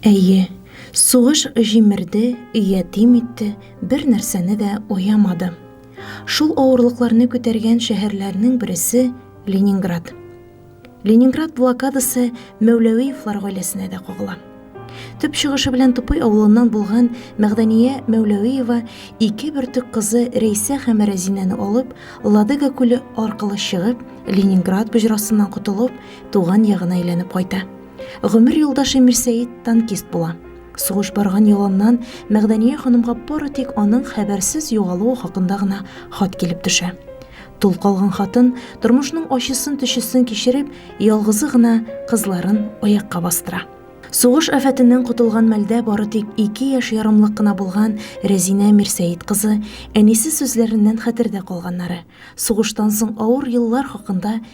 Әйе, сугыш җимерде, ятим итте, бер нәрсәне дә аямады. Шул авырлыкларны күтәргән шәһәрләрнең бересе Ленинград. Ленинград блокадасы Мәүләвиевлар гаиләсенә дә кагыла. Төп чыгышы белән Тупый авылыннан булган Мәгъдәния Мәүләвиева ике бөртек кызы Рәйсә һәм Рәзинәне алып, Ладога күле аркылы чыгып, Ленинград боҗрасыннан котылып, туган ягына әйләнеп кайта. Гомер юлдашы Мирсәет танкист була. Сугыш барган яланнан Мәгдәния ханымга бары тик аның хәбәрсез югалуы хакында гына хат килеп төшә. Тол калган хатын, тормышның ачысын-төчесен кичереп, ялгызы гына кызларын аякка бастыра. Сугыш афәтеннән котылган мәлдә бары тик ике яшь ярымлык кына булган Рәзинә Мирсәет кызы әнисе сүзләреннән хәтердә калганнары, сугыштан соң авыр еллар хакында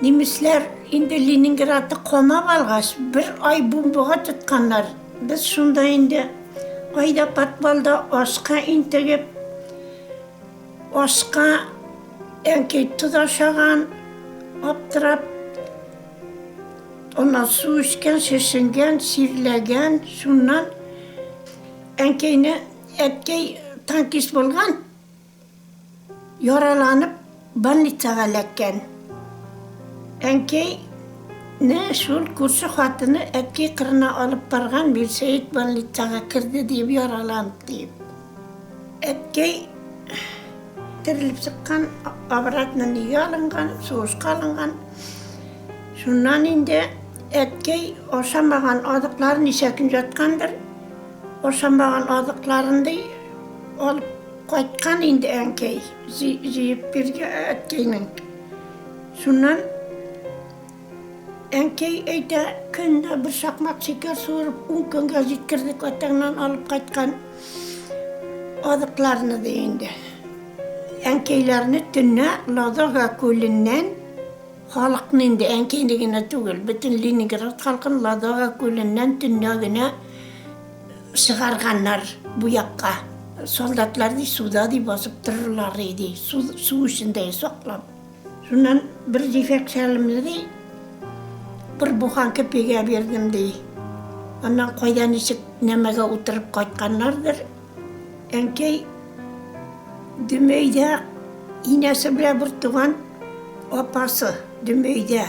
Немецләр инде Ленинградны камап алгач, бер ай бомбага тотканнар. Без шунда инде кайда подвалда ашка интегеп, ашка әнкәй тоз ашаган, аптырап, аннан су эчкән, шешенгән, чирләгән, шуннан әнкәйне, әткәй танкист булган. Яраланып больницага эләккән. Әнкәй не шул күрше хатыны әткәй кырына алып барган Мирсәет больницага керде диеп яраланып диеп. Әткәй терелеп чыккан, обратно нигә алынган, сугышка алынган. Шуннан инде әткәй ашамаган азыкларын ничә көн яткандыр, ашамаган азыкларын ди алып. Кайткан инде әнкәй, җыеп бирде әткәйнең. Шуннан әнкәй әйтә, көндә бер шакмак шикәр суырып, ун көнгә җиткердек атаңнан алып кайткан азыкларны, ди инде. Әнкәйләрне төнлә Ладога күленнән халыкны инде, әнкәйне генә түгел, бөтен Ленинград халкын Ладога күленнән төнлә генә чыгарганнар бу якка. Солдатлар ди суда ди басып торырлар иде, су, су эчендә саклап. Шуннан бер җефәк шәлемне ди бер буханка пигә бирдем ди. Аннан кайда ничек нәмәгә утырып кайтканнардыр. Әнкәй Дөмәйдә инәсе белән бер туган апасы Дөмәйдә.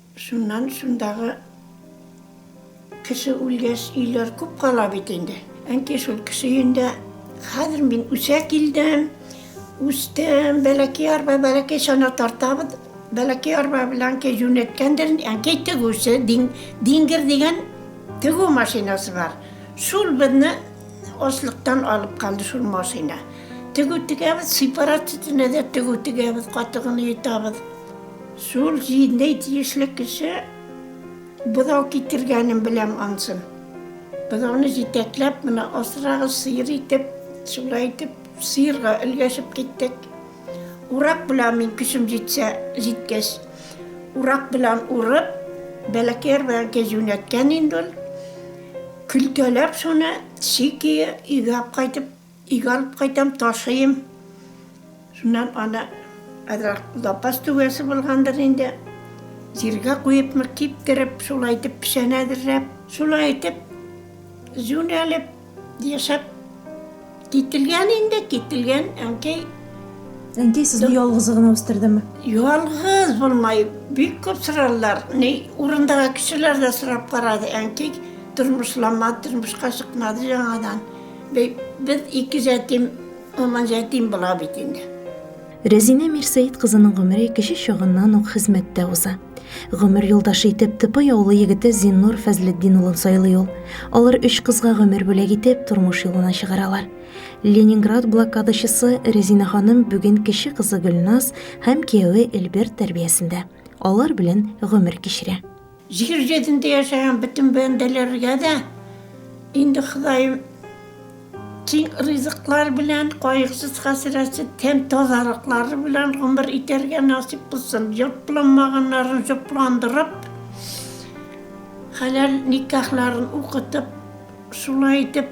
Шуннан шундагы кеше үлгәч, өйләр күп кала бит инде. Әнкәй шул кеше өендә, хәзер мин үсә килдем, үстем, бәләкәй арба, бәләкәй чана тартабыз, бәләкәй арба белән әнкәй юнәткәндер, әнкәй тегүче, диңгер дигән тегү машинасы бар. Шул безне аслыктан алып калды шул машина. Тегү тегәбез, сепаратчатыйны да тегү тегәбез, катыгын йотабыз. Зур җиндәй тиешле кеше бозау китергәнен беләм ансын. Бозауны җитәкләп, менә асрагыз, сыер итеп, шулай итеп, сыерга өлгәшеп киттек. Урак белән мин көчем җитсә, җиткәч, урак белән урып, бәләкәй арбаянкы җүнәткән инде ул. Көлтәләп шуны, чикиы, өйгә алып кайтып. Өйгә алып кайтам, ташыйм. Шуннан аны азрак лапас түгәсе булгандыр инде, җиргә куепмы, киптереп, шулай итеп печән әзерләп, шулай итеп җүнәлеп, яшәп кителгән инде, кителгән әнкәй. Әнкәй сезне ялгызы гына үстердеме? Ялгыз булмай, бик күп соралар. Ни, урындагы кешеләр дә сорап карады, әнкәй тормышламады, тормышка чыкмады яңадан. Без ике җәтим, Алман җәтим була бит инде. Рәзинә Мирсәет кызының гомере кече чагыннан ук хезмәттә уза. Гомер юлдашы итеп Тыпый авылы егете Зиннур Фәзлетдин улын сайлый ул. Алар өч кызга гомер бүләк итеп, тормыш юлына чыгаралар. Ленинград блокадачысы Рәзинә ханым бүген кече кызы Гөлназ һәм кияве Эльберт тәрбиясендә. Алар белән гомер кичерә. Җир йөзендә яшәгән бөтен бәндәләргә дә инде Ходаем киң ризыклар белән, кайгысыз-хәсрәтсез, тәм-тазалыклары белән гомер итәргә насыйп кылсын. Җопланмаганнарын җопландырып, хәләл никахларын укытып, шулай итеп,